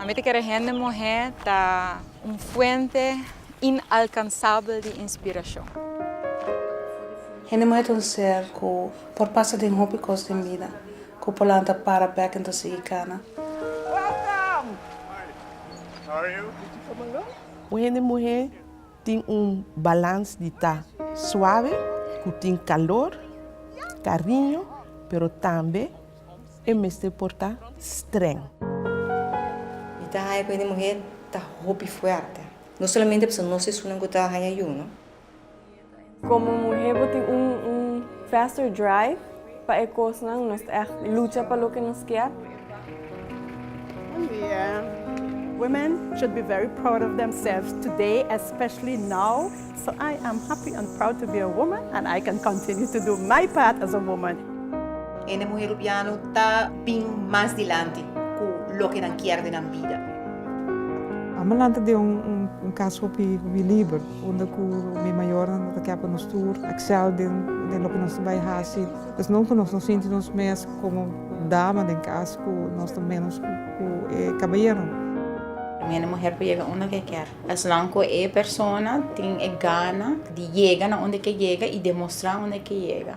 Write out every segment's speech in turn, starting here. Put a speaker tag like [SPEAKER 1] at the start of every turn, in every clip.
[SPEAKER 1] Ami ta kere hende muhé ta un fuente inalkansabel di inspirashon.
[SPEAKER 2] Hende muhé ta un ser ku Por pasa den hopi kos den bida ku por lanta para bek en ta sigui kana.
[SPEAKER 3] Un
[SPEAKER 4] hende muhé tin un balans di ta suave, ku tin kalor, kariño, pero tambe e mester por ta strèng.
[SPEAKER 5] Mi ta haña ku hende muhé ta hopi fuerte. No solamente pasobra nos esunnan ku ta haña yunu.
[SPEAKER 6] Komo muhé bo tin un un faster drive pa e kosnan, nos ta ègt lucha pa loke nos kier. Buen dia.
[SPEAKER 7] Women should be very proud of themselves today especially now so I am happy and proud to be a woman and I can continue to do my part as a woman. Hende muhé
[SPEAKER 8] Rubiano ta bin mas dilanti ku loke nan kier den nan bida.
[SPEAKER 9] Amalanta den un un kas hopi hopi liber. Unda ku mi mayornan ta kèp pa nos tur Excel den loke nos ta bai hasi. Esnan ku nos no sinti nos mes komo dama den kas ku nos ta ménos ku e kabayeronan. Mi
[SPEAKER 10] hende muher por yega unda ku e kèr. Esnan ku e persona tin e gana di yega na unda ke yega i demostrá unda ke yega.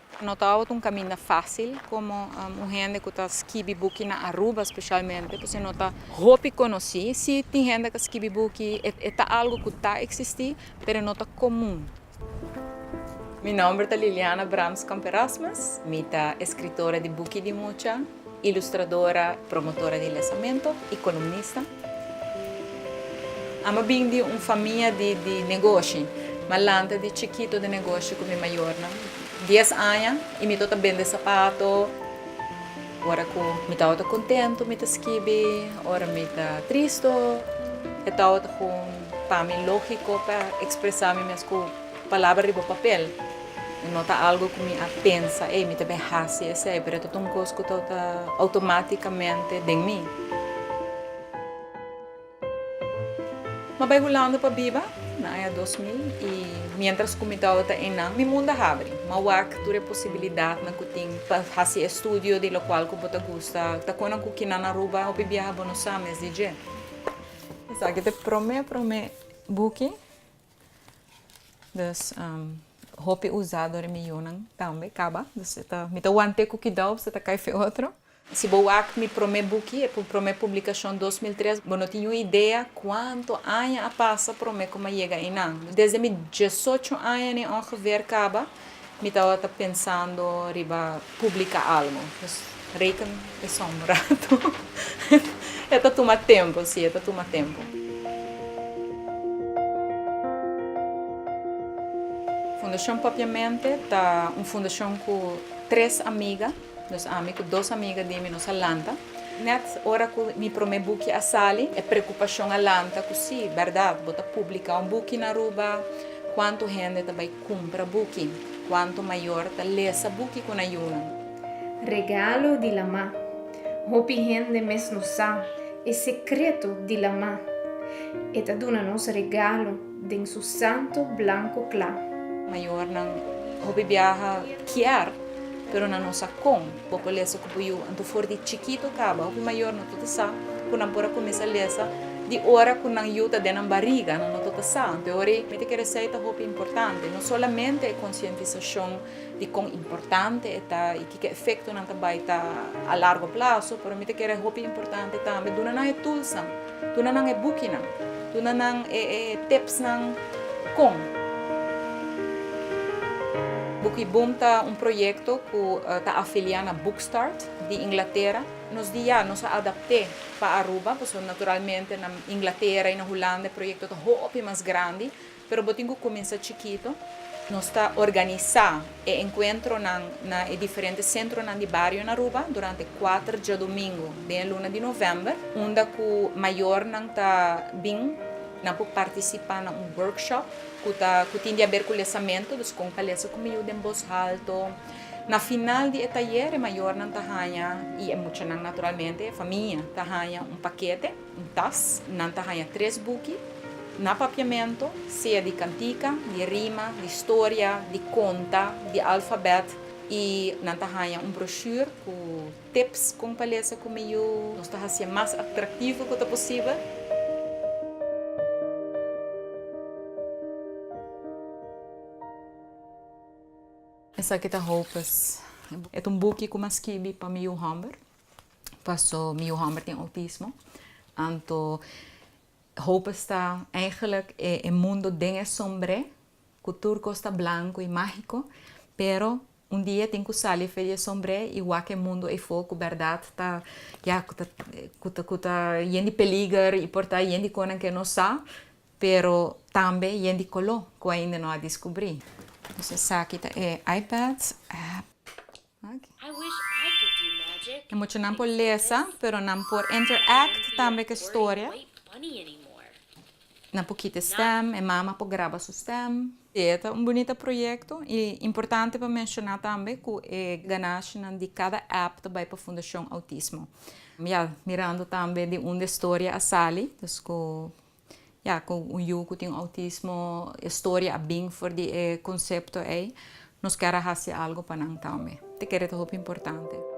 [SPEAKER 1] No ta oto un kaminda fásil komo un hende ku ta skibi buki na Aruba spesialmente por si no ta hopi konosí. Sí tin hende ka skibi buki, e ta algu ku ta eksistí pero no ta komun. Mi nòmber ta Liliana Brams Kamperasmus, mi ta eskritora di buki di mucha. Ilustradora, promotora di lesamento y columnista. Amo bin di un famia di di negoshi. Ma lanta di chikito den negoshi cu mi mayornan. Dies aña y mi tabata bende sapato. Ora cu mi tabata contento mi ta skibi, ora mi ta tristo e tabata con pa mi logico pa expresa mi mes cu. Palabra riba papel no ta algo ku mi a pensa, ei, mi ta bin hasi esei, pero e ta un kos ku ta outomátikamente den mi. Mi a bai Hulanda pa biba na aña dos mil i miéntras ku mi tabata einan mi mundu a habri. Mi a wak tur e posibilidatnan ku tin pa hasi estudio di lokual ku bo ta gusta. Ta kon nan ku kinan na Aruba a hopi biaha bo no sa mes di dje. Esaki ta e promé promé buki. Dus hopi uzado di mi yunan tambe kaba. Dus e ta, mi ta want'é ku kidau pasobra e ta kai fen otro. Si bo wak mi promé buki, e promé publikashon dos mil tres, bo no tin un idea kuantu aña a pasa promé ku mi a yega einan. Desde mi diesocho aña nen ongeveer kaba Mi tabata pensando riba publica algo. Pues reken esun un rato. E ta tuma tempo, si, e ta tuma tempo. Fundacion Papiamente ta un fundacion cu tres amiga. Dus ami ku dos amiga di mi nos a lanta. Nèt ora ku mi promé buki a sali, e preokupashon a lanta ku sí, bèrdat, bo ta publiká un buki na Aruba? Kuantu hende ta bai kumpra buki? Kuantu mayor ta lesa buki ku na yunan? Regalo
[SPEAKER 11] di Lamá. Hopi hende mes no sa e sekreto di Lamá. E ta duna nos regalo. Den su santu blanku kla. Mayornan
[SPEAKER 1] hopi biaha kier, pero nan no sa kon, bo por lesa ku bo yu. Anto for di chikitu kaba, hopi mayor no tota sa ku nan por a kuminsá lesa di ora ku nan yu ta den nan bariga. Nan no tota sa. Anto e ora ei mi ta kere sei ta hopi importante, no solamente e konsientisashon di kon importante e ta i kiko efekto nan ta bai ta a largo plaso, pero mi ta kere hopi importante tambe duna nan e tulsan. Duna nan e bukinan. Duna nan e tipsnan kon. Buki Boom ta un proyekto ku ta afiliá na Bookstart di Inglatera. Nos di ya nos a adapt'é pa Aruba, pasobra naturalmente na Inglatera i na Hulanda e proyekto ta hopi mas grandi. Pero bo tin ku kuminsá chikito. Nos ta organisá e enkuentronan na e diferente sentronan di bario na Aruba durante kuater djadumingu den e luna di novèmber, unda ku mayornan ta bin. Nan por partisipá na un workshop ku ta ku tin di aber ku lesamentu, dus kon pa lesa ku miú den bos halto. Na final di e tayer e mayornan ta haña, i e muchanan naturalmente, e famia, ta haña un pakete. Un tas, nan ta haña tres buki na papiamento, sea di kantika, di rima, di storia, di konta, di alfabèt, i nan ta haña un broshuer ku tips kon pa lesa ku mihó. Nos ta hasié mas atraktivo ku ta posibel. Esaki ta Hopes. E ta un buki ku mi a skibi pa mi yu hòmber. paso mi yu homber tin outismo anto hoopes ta eigenlik e mundo den e sombre ku tur kos ta blanko i mágiko pero un dia e tin ku sali afe di e sombre i wak e mundo eifo ku bèrdat ta ya ku ta yen di peliger i por ta yen di konan ke no sa pero tambe yen di koló ku ainda no a diskubrí entonces esaki ta e iPad. Aki. E muchanan por lesa, pero nan por interact tambe cu e storia. Nan por kita e stem, e mama por graba su stem. Si, e ta un bunita proyecto y importante pa menciona tambe cu e ganashinan di cada app ta bay pa Fundacion Autismo. Ya mirando tambe di unda e storia a sali, dus cu Ya cu un yu cu tin autismo e storia a bin for di e concepto ey, nos ker a haci algo pa nan tambe. Te kere ta hopi importante.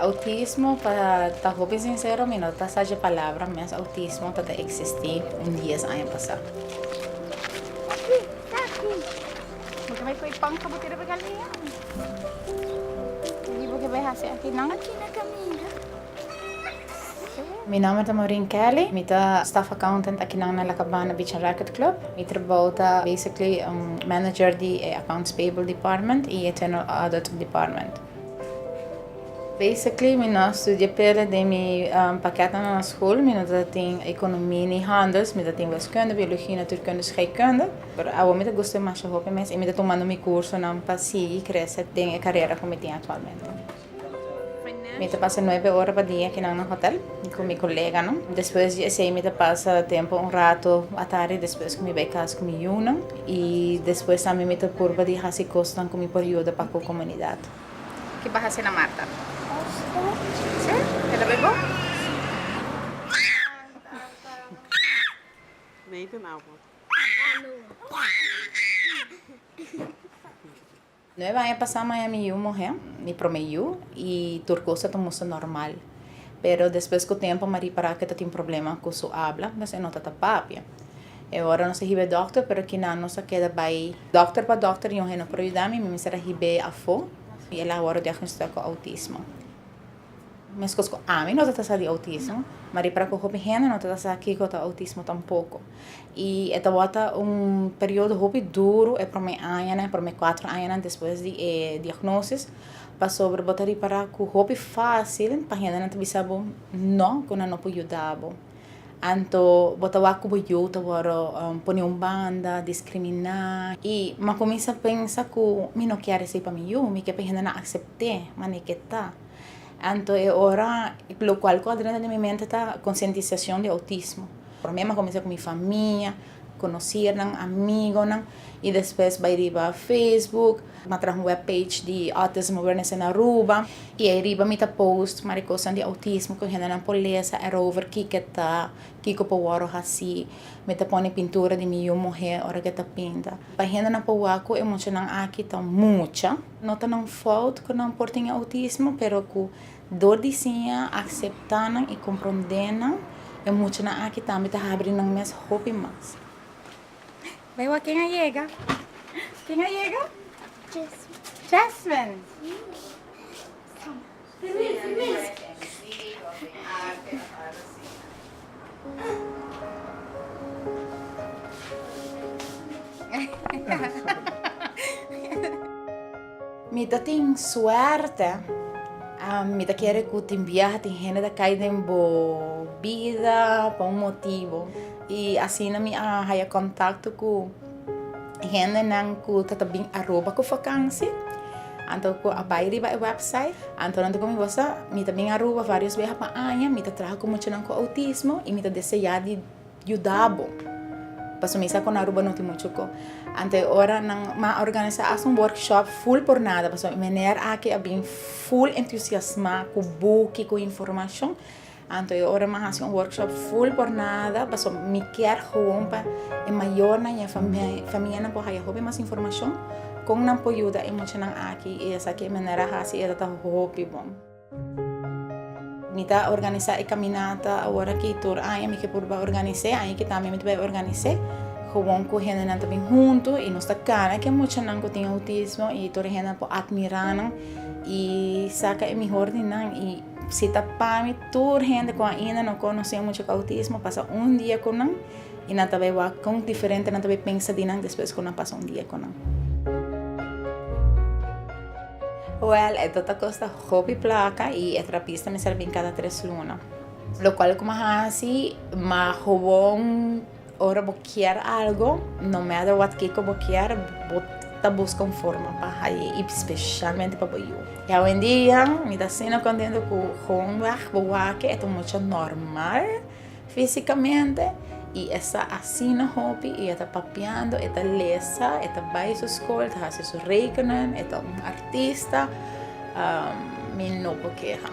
[SPEAKER 10] Autismo pa ta hopi sincero mi no ta sa dje palabra mes autismo ta ta existi un dies aña pasa. Mi nomber ta Maureen Kelly mi ta staff accountant akinan na La Cabana Beach and Racket Club mi trabou ta basically un manager di e accounts payable department y e general audit department. Basically mi no a studia pere den mi pakètnan na school mi no ta tin economie ni handels mi ta tin wiskunde biologie natuurkunde scheikunde pero awor mi ta guste masha hopi mes y mi ta tumando mi cursonan pa sigui crece den e carera cu mi tin actualmente mi ta pasa nuebe ora pa dia kinan na hotel cu mi coleganan despues di esey mi ta pasa tempo un rato atarde despues cu mi bay cas cu mi yunan I despues tambe mi ta purba di hasi kosnan ku mi por yuda pa ku komunidat. Ki bo a
[SPEAKER 12] hasi na Marta? Pasta. Sí? E ta bai
[SPEAKER 9] bon? Sí.
[SPEAKER 10] Nueve aña pasá maña mi yu muhé, mi promé yu, i tur cosa ta mustra normal. Pero despues ku tempu Marie pará ku e ta tin problema ku su abla, mes e no ta ta papia. E ora nos a hib'é dòkter, pero kinan nos a keda bai dòkter pa dòkter, yunhe no por yuda mi, mi mester a hib'é afó, i el a wòrdu diagnostisá ku outismo. Meskos ku ami no ta ta sa di outismo, maria para ku hopi hende no ta ta sa kiko ta outismo tampoko. I e tabata un periodo hopi duru e promé añanan, e promé kuater añanan despues di e diagnosis, pasobra bo ta ripará ku hopi fásil pa hendenan ta bisa bo no, ku nan no por yuda bo. Anto bo ta wak ku bo yu ta wòrdu pone un banda, diskriminá. I mi a kuminsá pensa ku mi no kier esei pa mi yu, mi kier pa e hendenan aksept'é manera ku e ta. Anto e ora, lokual ku a drentu den mi mente ta konsientisashon di outismo. Mi a kuminsá ku mi famia. Conocianan, amigonan y despues bay riba Facebook. Mi a traha un web page di Autism Awareness in Aruba y ay riba mi ta post mari cosnan di autismo cu hendenan por lesa erover kico ta, kico por wordo haci. Mi ta pone pintura di mi yu muhe ora cu e ta pinta. Pa hendenan por wak cu e muchanan aki ta mucha. No ta nan fout cu nan por tin e autismo pero cu Dor di siña, akseptá nan i komprondé nan, e muchanan aki tambe ta habri nan mes hopi mas.
[SPEAKER 12] Bai wak ken a yega? Ken a yega? Jasmine. Jasmine.
[SPEAKER 10] Mi ta tin suerte, mi ta kere ku tin biaha tin hende ta kai den bo bida pa un motibu i asina mi a haya kontakto ku. Hendenan ku ta bin Aruba ku vakansi, anto ku a bai riba e wèpsait, anto nan ta kominda wòs, mi ta bin Aruba vários beha pa aña, mi ta traha ku muchanan ku outismo i mi ta deseá di yuda bo, pasobra mi sa ku na Aruba no tin muchu ko. Anto e ora nan a organisá hasta un workshop ful por nada, pasobra meneer aki a bin ful entusiasmá ku buki, ku informashon. Anto e ora mi a hasi un workshop full por nada, pasobra mi kier gewoon pa e mayornan i e famianan por haya hopi mas informashon kon nan por yuda e muchanan aki i esaki e manera a hasi e tabata hopi bon. Mi ta organisá e kaminata awor aki tur aña mi ke purba organis'é, aña ki tambe mi ta bai organis'é gewoon ku hendenan ta bin huntu i nos ta kana ke muchanan ku tin outismo i tur e hendenan por atmirá nan i saka e mihor di nan i Si ta pa mi, tur hende ku ainda no konosé mucha kautismo, pasa un dia ku nan, i nan ta bai wak kon diferente nan ta bai pensa di nan despues ku nan pasa un dia ku nan. Wèl, e tabata kosta hopi plaka i e trapista mester bin kada tres luna. Lokual kuma hasi, ma hobon. Ora bo kier algo, no matter what kiko bo kier, bo ta buska un forma pa haye i specialmente pa bo yu. I awendia mi ta asina contento cu hoonweg bo wake e ta un mucha normal fisicamente i e sa asina hopi i e ta papiando, e ta lesa, e ta bay su school, ta haci su rekening, e ta un artista, mi no por keha.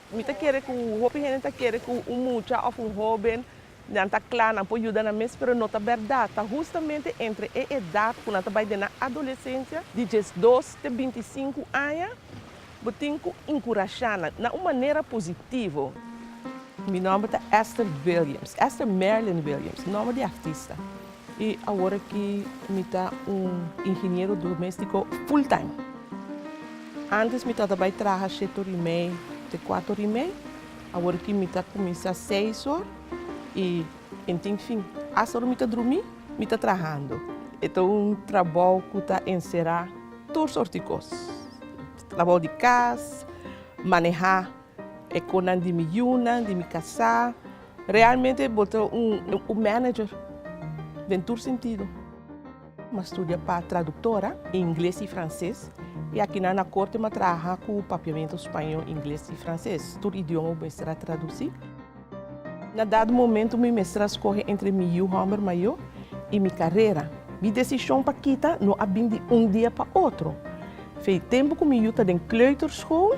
[SPEAKER 13] Mi
[SPEAKER 4] ta kere ku hopi hende ta kere ku un mucha òf un hóben nan ta kla, nan por yuda nan mes, pero no ta bèrdat. Ta hustamente entre e edat ku nan ta bai den nan adolesensia, di diesdos te binti i sinku aña, bo tin ku enkurashá nan na un manera positivo. Mi nòmber ta Esther Williams, Esther Merlin Williams, nòmber di artista. I awor aki mi ta un ingeniero doméstiko full-time. Ántes mi tabata bai traha sheto ri mei te kuato ri mei, awor aki mi ta kuminsá seis or i en tin fin. Asta ora mi ta drumí, mi ta trahando. E ta un trabou ku ta enserá tur sorti kos. Trabou di kas, manehá E konan di mi yunan, di mi kasá. Realmente bo ta un manager den tur sentido. M'a studia pa traduktora, ingles i franses. I akinan na Korte m'a traha ku Papiamentu Spañó, Ingles i Franses. Tur idioma bo mester a tradusí. Na dado momentu mi mester a skohe entre mi yu hòmber mayó i mi karera. Mi desishon pa kita no a bin di un dia pa otro. Tempu ku mi yu ta den kleuterskool.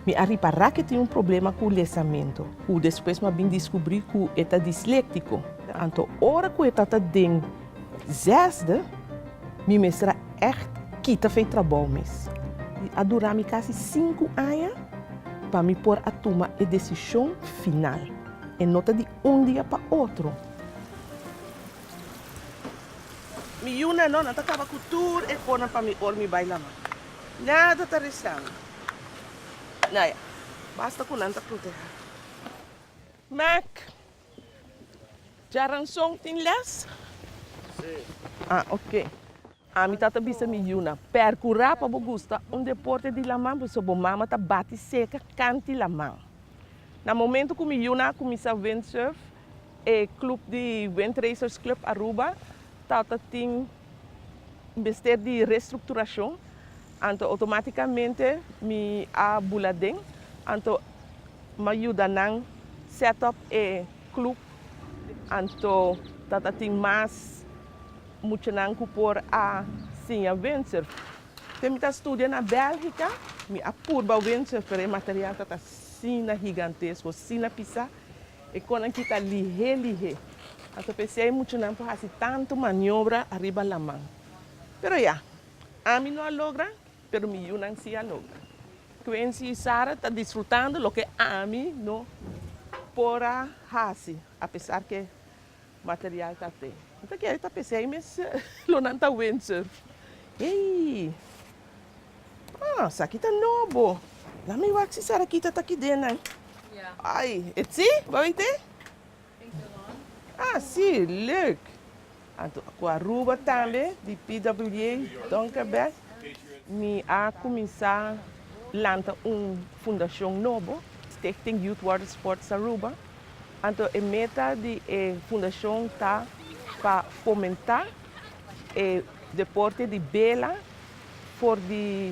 [SPEAKER 4] Mi a ripará k'e tin un problema ku lesamentu, ku despues mi a bin diskubrí ku e ta disléktiko. Anto ora ku e tabata den zèsde, mi mester a ègt kita fe trabou mes. A dura mi kasi sinku aña pa mi por a tuma e desishon final. E no ta di un dia pa otro. Mi yunan no, nan ta kaba ku tur e konan pa mi ora mi bai lama. Nada ta resa mi. Naya, basta cu nan ta proteha. Mac, Dja ranson tin les? Si.
[SPEAKER 3] Ah, ok.
[SPEAKER 4] Ami tata bisa mi yunan, percura pa bo gusta un deporte di laman pasobra bo mama ta bati seca canti laman. Na momento cu mi yunan a cuminsa windsurf, E club di Windracers Club Aruba ta ta tin mester di restructuracion, anto automaticamente mi a bula den, anto m'a yuda nan set up e club, anto ta ta tin mas muchanan cu por a siña windsurf. Te mi ta studia na Belgica, mi a purba windsurfer, e material ta ta asina gigantesco, asina pisa. E konnan kita lihé lihé. Anto p'esei e muchanan por hasi tantu maniobra ariba laman. Pero ya, ami no a logra, pero mi yunan sí a logra. Quency i Sarah ta disfrutando loke ami no por a hasi, apesar ke Material ta te. Mi ta kere ta p'esei mes lo nan ta windsurf. Eii. Ah, saki ta nobo. Laat mi wak si Sarakita ta kidennan. Ai, e tsi, bo bai te? Ah, si, leuk. Anto ku Aruba tambe di PWA Donkerbek mi a kuminsá lanta un fundashon nobo, Stichting Youth Watersports Aruba. Anto e meta di e fundashon ta pa fomentá e deporte di bela for di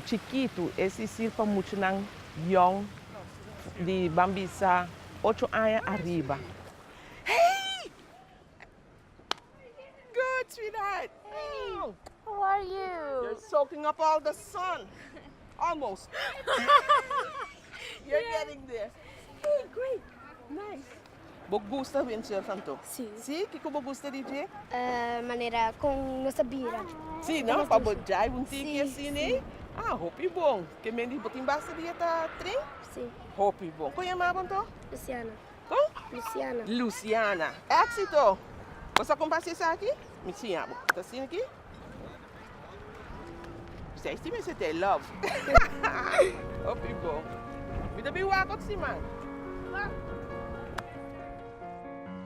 [SPEAKER 4] chikitu, es i sir pa muchanan yòn di ban bisa ocho aña ariba. Good, sweetheart. Hey,
[SPEAKER 13] how are you? You're soaking up all
[SPEAKER 4] the sun. Almost. You're yeah. getting there. Hey, great. Nice. Bo gusta win surfan to? Sí. Sí? Kiko bo
[SPEAKER 13] gusta
[SPEAKER 4] di je? Uh, manera
[SPEAKER 13] con nuestra bira. Sí, no? Pa bo
[SPEAKER 4] jai un tiki así, ne? Ah, hopi bon. Que men di botin basta di eta tren? Sí. Hopi
[SPEAKER 13] bon. Con
[SPEAKER 4] llamabon to? Luciana. Kon? Luciana.
[SPEAKER 13] Luciana.
[SPEAKER 4] Éxito! Bo sa kon pa hasi esaki? Mi siña bo. Ta siña aki. Bisai esti mester ta e love. Hopi bon. Mi ta bin wak ot siman.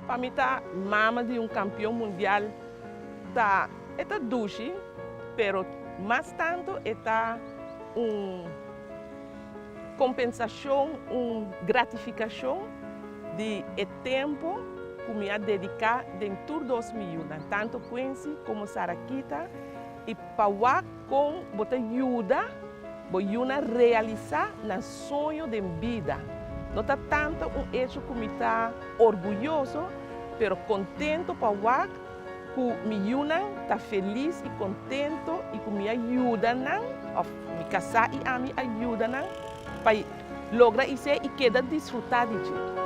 [SPEAKER 4] Pa mi ta mama di un kampion mundial ta e ta dushi pero mas tanto e ta un. Kompensashon, Un gratifikashon di e tempu ku mi a dediká den tur dos mi yunan, tantu Quincy komo Saraquita, i pa wak kon bo ta yuda bo yunan realisá nan soño den bida. No ta tantu un echo ku mi ta orguyoso, pero kontentu pa wak Ku mi yunan ta felis i kontento i ku mi a yuda nan, òf mi kasá i ami a yuda nan pa logra i se i keda disfrutá di dje.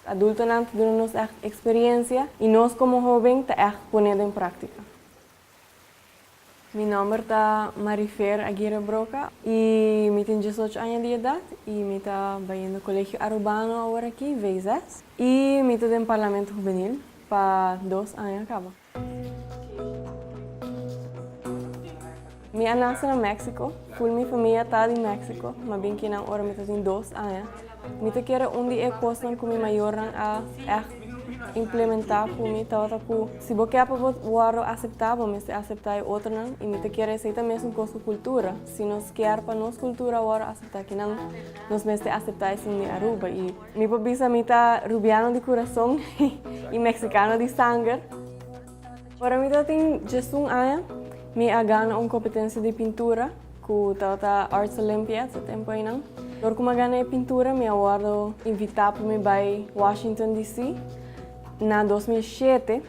[SPEAKER 6] Adultonan ta duna nos ègt eksperiencia i nos komo hoben ta ègt pone den praktika. Mi nòmber ta Marifer Aguirre Broca i mi tin diesocho aña di edat i mi ta bai yendo Colegio Arubano awor aki, VSS, i mi ta den Parlamento Hubenil pa dos aña kaba. Mi a nase na Mexico. Full mi famia ta di Mexico. Mi a bin kinan ora mi ta tin dos aña. Mi ta kere un di e cosnan cu mi mayornan a echt implementa cu mi tabata cu si bo ke pa bo wordo acepta bo mester acepta e otronan y mi ta kere esey ta mesun cos cu cultura. Si nos kier pa nos cultura a wordo acepta kinan nos mester acepta esey mi Aruba y. Mi por bisa mi ta Rubiano di kurason i Meksikano di sanger. Ora mi tabatin djesun aña, mi a gana un kompetensia di pintura ku tabata Arts Olympiads e tempu einan. Dor ku mi a gana e pintura mi a wòrdu invitá pa mi bai Washington DC. na dos mil shete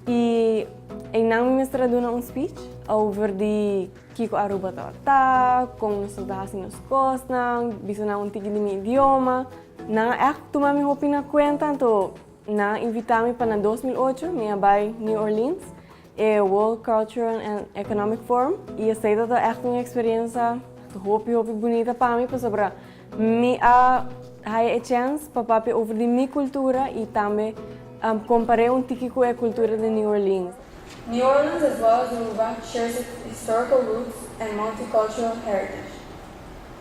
[SPEAKER 6] i einan mi mester a duna un speech over di. Kiko Aruba ta ora ta, kon nos ta hasi nos kosnan, bisa nan un tiki di mi idioma. Nan a ègt tuma mi hopi na kuenta, anto nan a invitá mi pa na dos mil ocho mi a bai New Orleans, e World Cultural and Economic Forum, i esei tabata ègt un eksperiensa hopi hopi bunita pa mi, pasobra. Mi a haya e chèns pa papia over di mi kultura i tambe kompar'é un tiki ku e kultura di New Orleans. New Orleans
[SPEAKER 14] as well as Aruba shares its historical roots and multicultural heritage.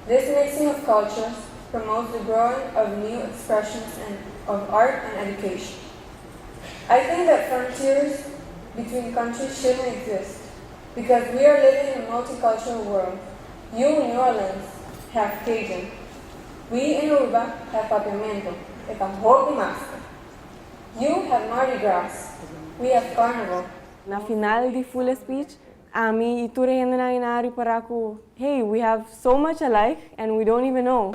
[SPEAKER 14] This mixing of cultures promotes the growing of new expressions and of art and education. I think that frontiers between countries shouldn't exist. Because we are living in a multicultural world, you New Orleans have Cajun, we in Aruba have Papiamento, e ta hopi mas ta. You have Mardi Gras, we have Carnival. Na final
[SPEAKER 6] di full speech, ami y tur e hendenan y nan a ripará cu, hey, we have. So much alike and we don't even know.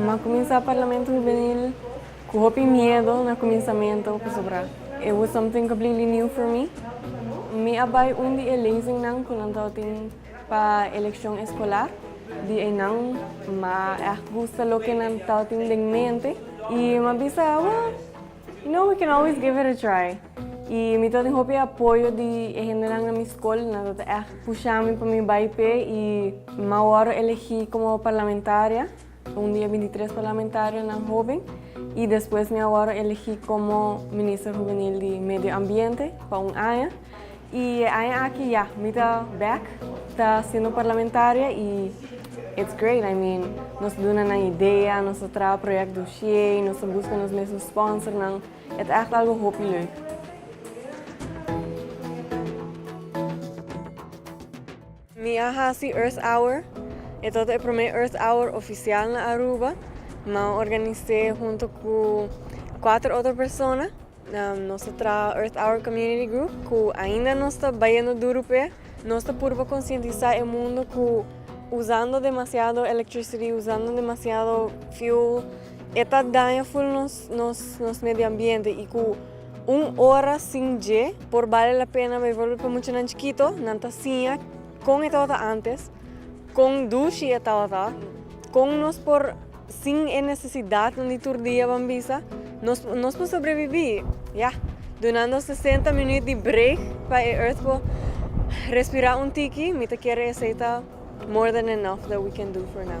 [SPEAKER 6] M'a cuminsa Parlamento Hubenil cu hopi miedo na cuminsamento pasobra it was something completely new for me. Mi a bay un di e lezingnan cu nan tawata tin pa eleccion escolar. Di eynan m'a echt gusta loke nan tawata tin den mente y m'a bisa, Wah! You know, we can always give it a try. I mi ta tin hopi apoyo di e hendenan na mi skol, nan ta ta ègt pusha mi pa mi bai p'e i mi a wòrdu elegí komo parlamentaria, un di e binti tres parlamentarionan hoben, i despues mi a wòrdu elegí komo Minister Hubenil di Medio Ambiente pa un aña. Y e aña aki ya, mi ta back ta siendo parlamentaria y it's great, I mean nos ta duna nan idea, nos ta traha project dossier, nos ta busca nos mes un sponsornan, e ta echt algo hopi leuk. Mi a haci Earth Hour, e tabata e prome Earth Hour oficial na Aruba. Mi a organise hunto cu cuater otro persona. Nos ta traha Earth Hour Community Group ku ainda nos ta bayendo duru p'e. Nos ta purba konsientisá e mundu ku usando demasiado electricity, usando demasiado fuel e ta daña ful nos nos nos medio ambiente i ku un ora sin dje por bale la pena. Bijvoorbeeld pa muchanan chikito nan ta siña kon e tabata antes Kon dushi e tabata! Kon nos por sin e nesesidatnan di tur dia ban bisa nos nos por sobreviví? Ya! Dunando sesenta minüt di break pa e earth por respirá un tiki, mi ta kere esei ta more than enough that we can do for now.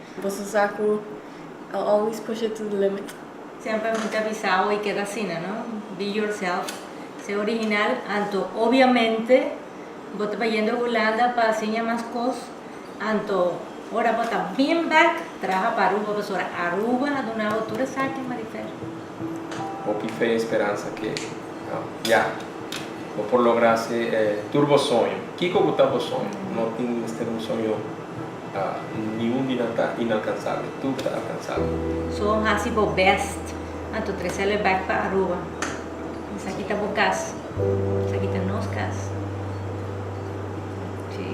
[SPEAKER 6] Boso sa cu I always push it to the limit. Semper mi ta
[SPEAKER 15] bisa abo i keda asina no, be yourself, se original, anto obviamente bo ta bayendo Hulanda pa siña mas cos, anto ora bo ta been back traha pa Aruba pasobra Aruba a duna bo tur esaki Marifer.
[SPEAKER 16] Hopi fe y speransa ke ya bo por logra hace tur bo soño. Kiko ku ta bo soño? No tin mester un soño ni un di nan ta inalkansabel. Tur ta alkansabel. So hasi
[SPEAKER 15] bo best. Anto tresele back pa Aruba. Esaki ta bo kas. Esaki ta nos kas. Si.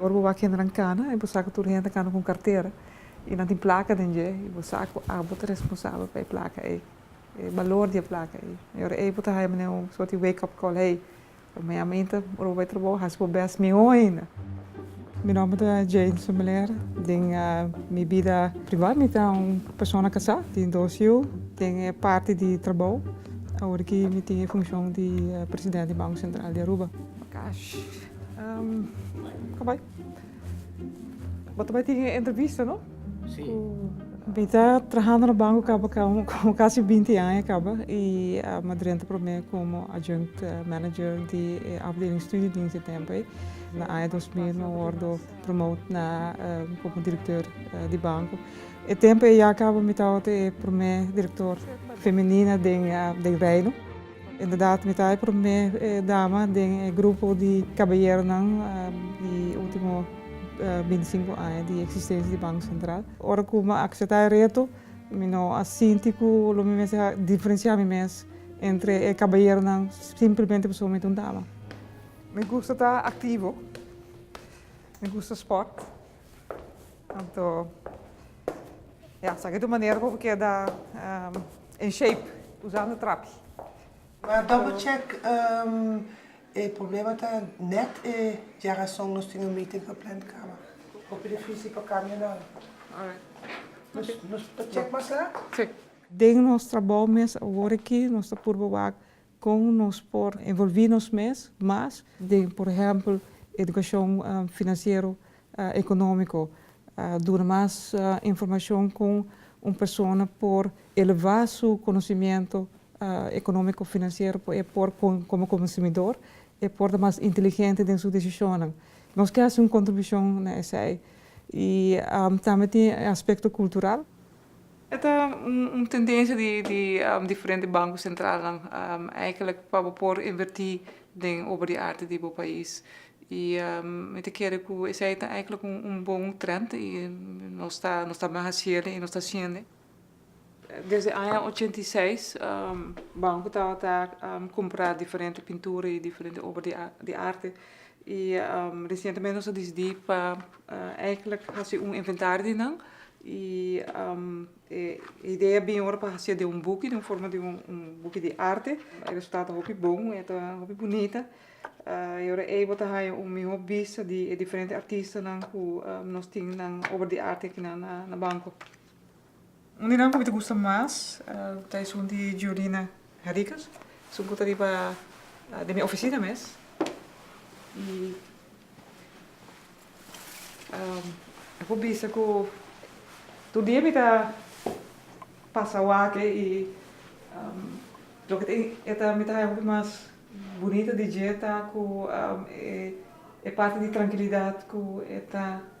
[SPEAKER 9] Ora bo wak hendenan kana y bo sa ku tur hende kana ku un kartera y nan tin plaka den dje y bo sa ku abo ta responsabel pa e plaka ei, e balor di e plaka ei, e ora ei bo ta haya manera un sort di wake up call, hey, ta maya aminta, ora bo bai trabou hasi bo bes mihó ainda. Mi nomber ta Jane Sommeleer. Den mi bida pribá mi ta un persona kasá. Mi tin dos yu. Den e parti di trabou awor ki mi tin e funshon di presidente di Banko Sentral di Aruba. Kash, ka bai. Bo ta bai tin e entrevista no? Si.
[SPEAKER 17] Mi ta
[SPEAKER 9] trahando na banko kaba komo kasi binti aña kaba i mi a drenta promé komo adjunct manager di e afdeling studiedienst e tempo ei. Na aña dos mil mi a wordo promote na como director di banco. E tempo eya caba mi tabatin e prome director femenina den den Reino. Inderdaad mi ta e prome dama den e grupo di caballeronan di ultimo binti sinku aña di existencia di Banco Central. Ora cu mi a acepta e reto mi no a sinti cu lo mi mester a diferencia mi mes entre e caballeronan simplemente pasobra mi ta un dama. Mi gusta ta aktivo, mi gusta sport, anto ya, sa ke ta un manera pa ku keda en shape usando trapi. Ma
[SPEAKER 18] double check, e problema ta nèt e dje rason nos tin un meeting pa plan di kama. Hopi difísil pa kambia nan. Nos ta check mas laat. Si. Den
[SPEAKER 9] nos trabou mes awor aki nos ta purba wak Kon nos por envolví nos mes mas den, por ehèmpel, edukashon finansiero, ekonómiko? Duna mas informashon kon un persona por elevá su konosimiento ekonómiko, finansiero pa e por komo konsumidor e por ta mas inteligente den su desishonnan. Nos ke hasi un kontribushon na esei. I tambe tin e aspekto kultural. E ta un tendensia di di diferente banko sentralnan eigelik pa bo por invertí den oba di arte di bo pais. I mi ta kere ku esei ta eigelik un bon trènt i nos ta nos ta bin hasiel i nos ta siende. Desde aña ochenta i seis banko tabata kumpra diferente pintura i diferente oba di arte i resientemente nos a disidí pa Eigenlijk hasi un inventario di nan y e idea bin ora pa hacié den un buki, den forma di un buki di arte. E resultado ta hopi bon y ta hopi bunita y ora ey bo ta haña un miho bista di e diferente artistanan cu nos tin nan obra di arte aki nan na banco. Un di nan ku mi ta gusta mas ta esun di Giolina Henriquez, esun ku ta riba den mi ofisina mes. I e por bisa ku tur dia mi ta pasa wak-e i loke ta e ta mi ta haña hopi mas bunita di dje ta ku e parti di trankilidat ku e ta.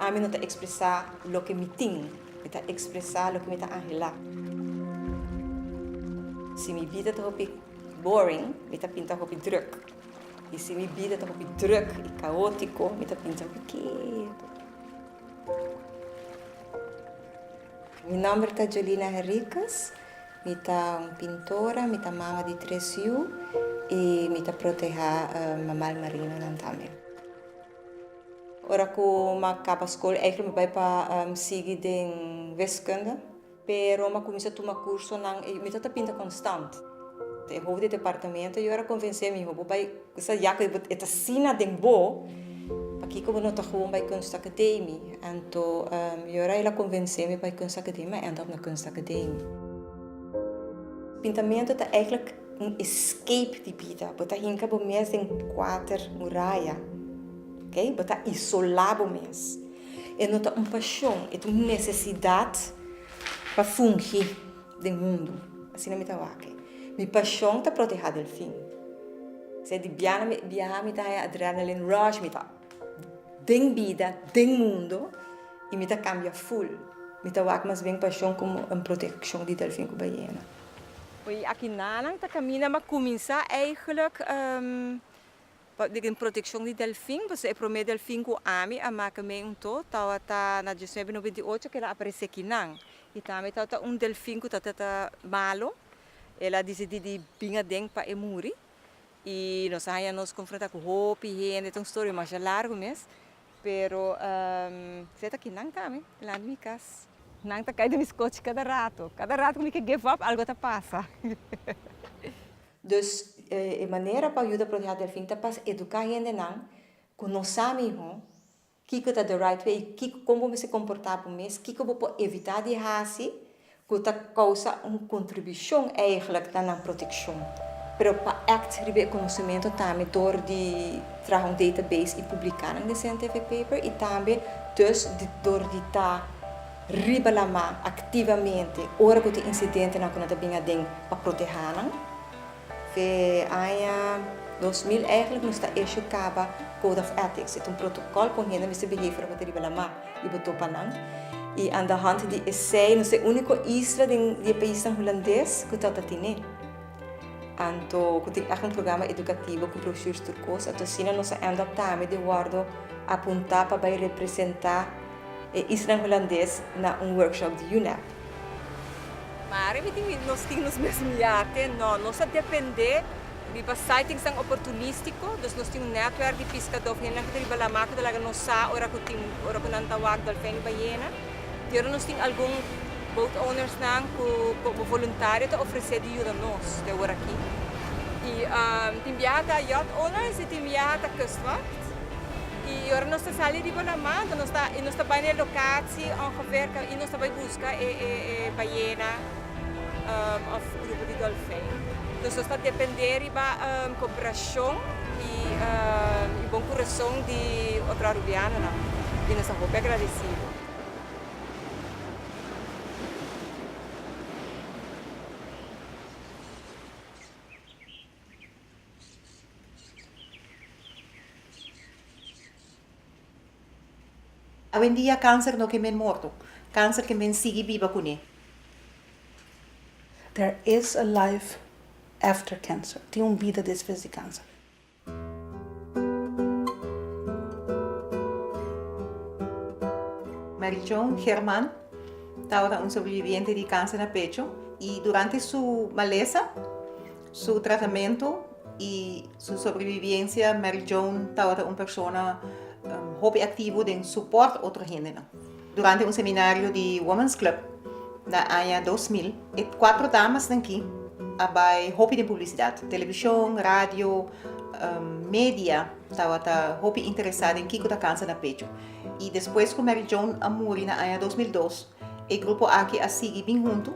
[SPEAKER 5] Ami no ta expresa loke mi tin. Mi ta expresa loke mi ta anhela. Si mi bida ta hopi boring, mi ta pinta hopi druk. I si mi bida ta hopi druk i kaotiko, mi ta pinta hopi ketu. Mi nomber ta Jolina Henriquez. Mi ta un pintora, mi ta mama di tres yu i mi ta proteha mamal marinonan tambe. Ora ku ma kaba skol eikli mi bai pa sigui den wiskunde, pero ma kuminsá tuma kursonan i mi ta ta pinta konstant. E houfu di e departamentu yora konvensé mi, bo bai kusa ya ku e ta asina den bo, pakiko bo no ta gewoon bai kunsa kudei mi. Anto yora el a konvensé mi bai kunsa kudei mi, mi a end up na kunsa kudei mi. Pintamentu ta eiklik Un escape di bida. Bo ta hinka bo mes den kuater muraya. Ok? Bo ta isolá bo mes. E no ta un pashon, e ta un nesesidat pa fungi den mundu. Asina mi ta wak. Mi pashon ta protehá delfin. P'esei di biaha na biaha mi ta haña adrenaline rush, mi ta den bida, den mundu i mi ta kambia ful. Mi ta wak mas bien pashon komo un protekshon di delfin ku bayena. Oye, aki nanan ta caminda m'a cuminsa eigenlijk pa den proteccion di delfin, pasobra e prome delfin cu ami a maca mey un to tawata na diecinuebe noventa y ocho keda aparece aki nan, y tambe tawata un delfin cu tawata ta malo, el a dicidi di bin aden pa e muri, y nos a haya nos confronta cu hopi hende, ta un story masha largo mes, Pero se ta ki nan tambe landi mi kas. Nan ta kai den mi skochi kada rato. Kada rato ku mi ke give up algo ta pasa. Dus e manera pa yuda Proteha Delfin ta pas eduka hendenan ku no sa mihó kiko ta di right way i kon bo mester komportá bo mes, kiko bo por evitá di hasi ku ta kousa un kontribushon eigelijk na nan protekshon, pero pa act riba e konosementu tambe dor di traha un database i publiká nan den scientific paper i tambe dus di dor di ta riba la ma aktivamente ora ku tin insidentenan ku nan ta bin aden pa protehánan. Te aña dos mil èglik nos ta issue kaba Code of Ethics. E ta un protokòl kon hende mester behave ora bo ta riba lamar i bo topa nan. I andahònt di esei nos ta e úniko isla den di e paisnan hulandes ku ta ta tine. Anto ku tin èk un programa edukativo ku broshurs tur kos. Anto asina nos a èndòp tambe di wòrdu apuntá pa bai representá. E islan Hulandes na un workshop di UNEP.
[SPEAKER 19] Ma ariba di nos tin nos mes miate? No, nos a dependé riba sightingsnan oportunístiko. Dus nos tin un nètwèrk di piskadó ku hendenan ku ta riba lamar ku ta laga nos sa ora ku tin ora ku nan ta wak dòlfèn i bayena. Di ora nos tin algun boat ownersnan ku komo voluntario ta ofresé di yuda nos te orakí. I tin biaha ta yacht owners i tin biaha ta kustwacht. Y ora nos ta sali riba na mar nos ta y nos ta bay na e locatie ongeveer ta y nos ta bay busca e e e ballena of grupo di dolfijn. Entonces nos ta depende riba cooperacion y y bon corazon di otro Arubianonan y nos ta hopi agradecido.
[SPEAKER 8] Awendia kanser no ke men morto. Kanser ke men sigui biba kuné.
[SPEAKER 2] There is a life after cancer. Tin un bida despues di kanser.
[SPEAKER 8] Marichon German tabata un sobreviviente di kanser na pecho i durante su malesa Su tratamentu i su sobreviviensia, Mary Joan tabata un persona hopi aktivo den suport otro hendenan. Durante un seminario di Women's Club na aña dos mil, e kuater damasnan ki a bai hopi den publisidat. Televishon, radio, media tabata hopi interesá den kiko ta kanser na pechu. I despues ku Mary Joan a muri na aña dos mil dos, e grupo aki a sigui bin huntu.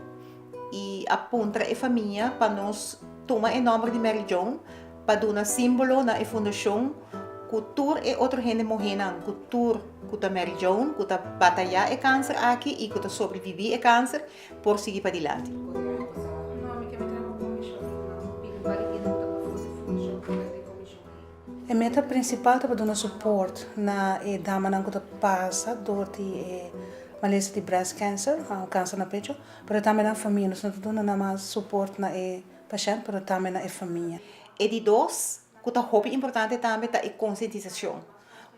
[SPEAKER 8] i a puntra e famia pa nos tuma e nòmber di Mary Joan pa duna símbolo na e fundashon ku tur e otro hende mohénan ku tur ku ta Mary Joan ku ta batayá e kanser aki i ku ta sobreviví e kanser por sigui padilanti.
[SPEAKER 2] E meta prinsipal ta pa duna suport na e damanan ku ta pasa dor di e malesa di breast cancer, kanser na pecho. Pero tambe na famia. Nos no ta duna namas suport na e pashènt, pero tambe na e famia. E di dos,
[SPEAKER 8] ku ta hopi importante tambe, ta e konsientisashon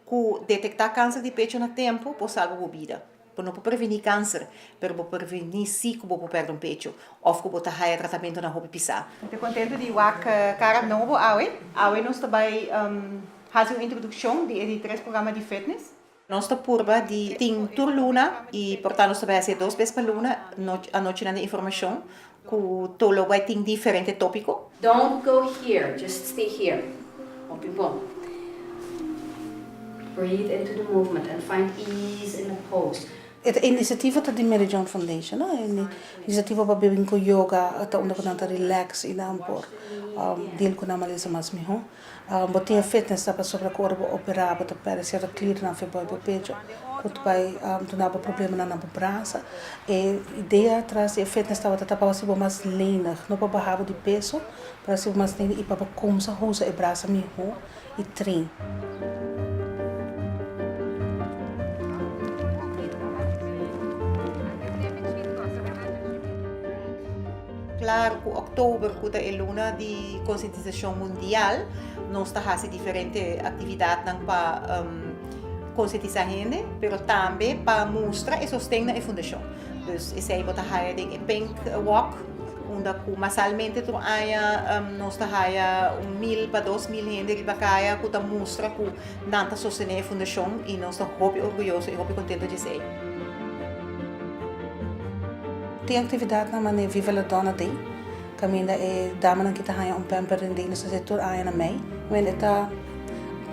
[SPEAKER 8] ku detektá kanser di pecho na tempu por salba bo bida. Bo no por previní kanser, pero bo por previní sí ku bo por pèrdè un pecho òf ku bo ta haya tratamentu na hopi pisá. Mi ta kontentu di wak kara nobo awe. Awe nos ta bai hasi un introdukshon di e di tres programa di fitness. Nos ta purba di tin tur luna y por ta nos ta bai haci e dos bes pa luna anochinan di informacion cu to lo bai tin diferente topico. Don't go here,
[SPEAKER 20] just stay here. Hopi bon. Breathe into the movement and find ease in the pose. E iniciativo
[SPEAKER 2] ta di Mary John Foundation, e iniciativo pa bin cu yoga ta unda cu nan ta relax y nan por deal cu nan malesa mas mihor. Bo tin fe t'e sa pasobra ku ora bo operá bo ta pèrdè sierto klirnan fe bai bo pecho ku ta bai duna bo problemanan na bo bransa. E idea atras di e fe t'e tabata ta pa hasi bo mas lenig, no pa baha bo di peso, pa hasi bo mas lenig i pa bo kumsa usa e brasa mihó i trin.
[SPEAKER 8] Klaru ku òktober ku ta e luna di konsientisashon mundial nos ta hasi diferente aktividatnan pa konsientisá hende pero tambe pa mustra e sosten na e fundashon. Dus esei bo ta haya den e Pink Walk unda ku masalmente tur aña nos ta haya un mil pa dos mil hende riba kaya ku ta mustra ku Nan ta sostené e fundashon i nos ta hopi orguyoso i hopi kontento dje esei.
[SPEAKER 2] Tin aktividatnan manera Viva la Donna Day, kaminda e damanan ki ta haña un pamper den dei nos ta hasi tur aña na mei. Bueno, e ta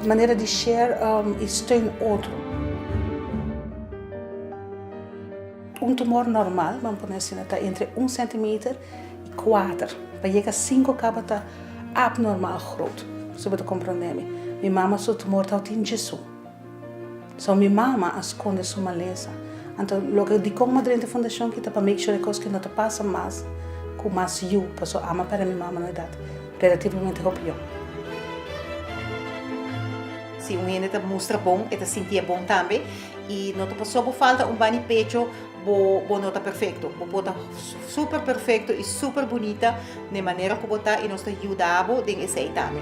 [SPEAKER 2] un manera di share i steun otro. Un tumor normal, bo a pone asina, ta entre un sentimeter. Kuater pa yega sinku kaba ta abnormal grot. Su bo ta komprondé mi. Mi mama su tumor tau tin djesu. So mi mama a skonde su malesa. Anto loke dikon Madrente Fundashon kita pa make sure kos ke no ta pasa mas ku mas yu paso ama pèrdè mi mama na edat relativamente hopi yòn.
[SPEAKER 8] Si un hende ta mustra bon e ta sinti e bon tambe i no ta pasob'o falta un bani pecho Bo, bo no ta perfecto. Bo por ta super perfecto y super bunita n'e manera cu bo ta y nos ta yuda bo den esey tambe.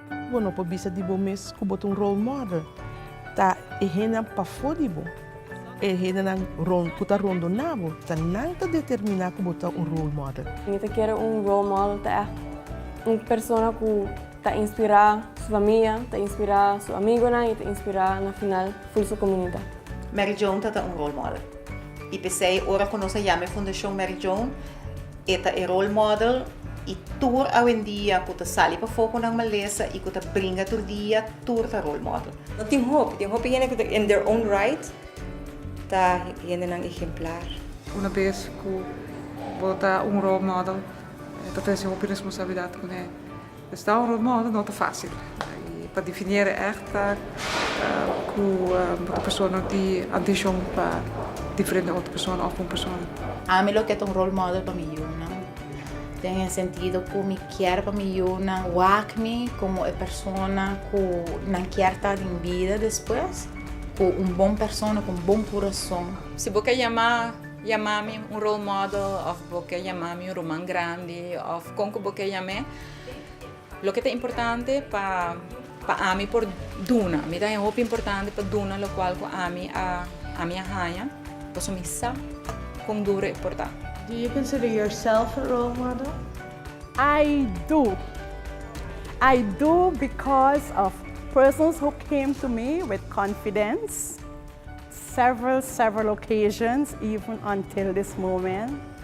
[SPEAKER 4] Bo no por bisa di bo mes ku bo ta un role model. Ta e hendenan pafó di bo. E hendenan ku ta rondoná bo, ta nan ta determiná ku bo ta un role model. Mi ta kere un
[SPEAKER 6] role model ta ègt un persona ku ta inspirá su famia, ta inspirá su amigonan i ta inspirá na final full su komunidat. Mary Joan ta
[SPEAKER 8] ta un role model. I p'esei ora ku nos a yama e fundashon Mary Joan. E ta e role model i tur awendia ku ta sali pafó ku nan malesa i ku ta bringa tur dia, tur ta role model. No tin hopi, tin
[SPEAKER 5] hopi hende ku ta in their own right ta hendenan ehemplar. Una bes
[SPEAKER 21] ku bo ta un role model ta trese hopi responsabilidat kuné. Esta un rol mor, no ta fácil. I pa definie'e ègt ku e persona no tin antishon pa diferente otro persona òf un persona. Ami lo ke ta un
[SPEAKER 10] rol model pa mi yunan, den e sentido ku mi kier pa mi yunan wak mi komo e persona ku nan kier ta den bida despues, ku un bon persona, ku un bon kurason. Si bo ke yama,
[SPEAKER 1] yama mi un rol model òf bo ke yama mi un ruman grandi òf Kon ku bo ke yam'é? Loke ta importante pa pa ami por duna? Mi ta haña hopi importante pa duna lokual ku ami a ami a haña pasobra mi sa kon duru e por ta. Do you consider
[SPEAKER 11] yourself a role model? I
[SPEAKER 7] do. I do because of persons who came to me with confidence several several occasions even until this moment.